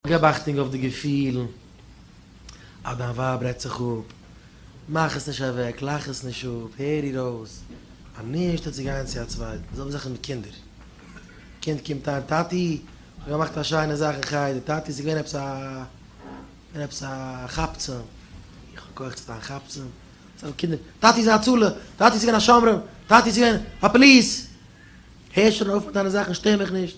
געב אכטונג אויף די געפילן, אז דיין ווייב רעדט זיך אפ, מאך עס נישט אוועק, לאך עס נישט אפ, הער איר אויס, אנישט צו גיין צו א צווייטן, די זעלבע זאך איז מיט קינדער, קינד קומט אהן, טאטי איך האב געמאכט א שיינע זאך אין חדר, טאטי עס איז געווען עפעס א געווען עפעס א כאפצעם, איך האב כח צו דיין כאפצעם, די זעלבע קינדער, טאטי איז א הצלה, טאטי עס איז געווען א שומרים, טאטי עס איז געווען א פאליס, הער שוין אויף מיט דיינע זאכן, שטער מיך נישט,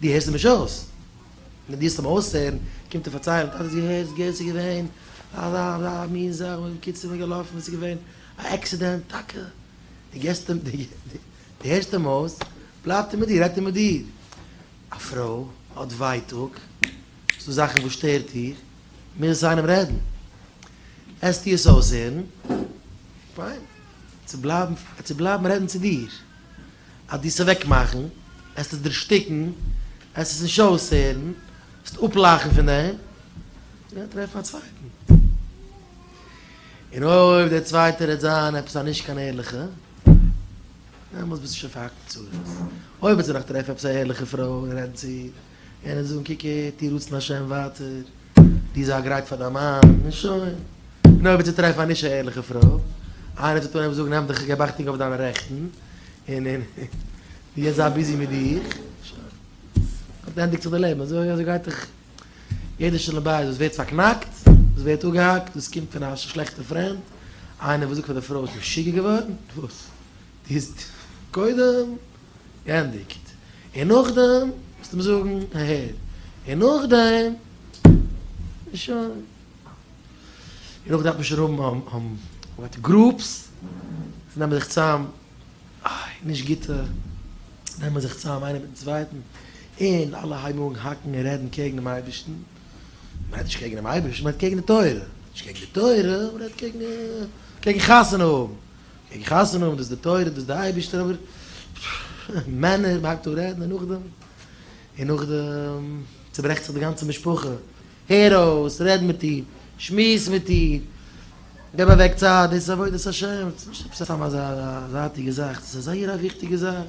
דו הערסט אים נישט אויס. ווען דו הערסט אים אויסהערן, קומט ער פארציילן, טאטע האסט געהערט וואס ס'איז געווען? א ר ר מין זאך, בקיצור מ'איז געלאפן און ס'איז געווען א עקסידענט, טאקע? דו געסט אים, דו הערסט אים אויס, בלייבט ער מיט דיר, רעדט ער מיט דיר. א פרוי האט ווייטאג, ס'דא זאכן וואס שטערט איר, מוז עס איינעם רעדן. העסטו עס אויסהערן, פיין, ער צו בלייבן רעדן צו דיר. אז דו עסט אוועקמאכן, עסט עס דערשטיקן, עסט עס נישט אויסהערן, עסט אפלאכן פון אים, גיי טרעף א צווייטן. און אויב דער צווייטער וועט זיין עפעס א נישט קיין ערליכע, דעמאלטס ביסטו שוין פארהאקט אין צרות. אויב וועט זי נאך טרעפן עפעס א ערליכע פרוי און רעדן צו איר. און ער זאגן קוק הער טו רצון השם ווייטער, דו זיי גרייט פאר דיין מאן, און שוין. און אויב וועט זי טרעפן א נישט א ערליכע פרוי, איינער צו טאן עפעס זאגן נעם דיך, געב אכטונג אויף דיינע רעכטן, און און דו יעצט זיי ביזי מיט דיך, שוין. אט ענדיגט זיך די לעבן, אזוי אזוי גייט דאך יעדע שלום בית וואס ווערט פארקנאקט, וואס ווערט אפגעהאקט, דאס קומט פון א שלעכטע פרענד, איינער וואס זאגט פאר די פרוי ביסט משוגע געווארן, וואס? ביסט קודם געענדיגט און נאכדעם וועסטו מיר זאגן אהער און נאכדעם איז שוין און אויך דארף מען שוין האבן וואט גרופס זיי נעמען זיך צאם איי נישט גוטע נעמען זיך צאם איינער מיטן צווייטן און אלע הייבן אן האקן און רעדן קעגן דעם אייבערשטן מ'רעדט נישט קעגן דעם אייבערשטן מ'רעדט קעגן די תורה נישט קעגן די תורה מ'רעדט קעגן קעגן חתונה האבן איך חתונה האבן, דאס איז די תורה, דאס איז די אייבערשטער, אבער מענער, מ'האקט אפ רעדן, און נאכדעם, און נאכדעם צוברעכט זיך די גאנצע משפחה, הער אויס, רעד מיט איר, שמועס מיט איר, געב אוועק צייט, דאס איז עבודת השם, ס'נישט עפעס סתם אזא זייטיגע זאך, דאס איז א זייער א וויכטיגע זאך.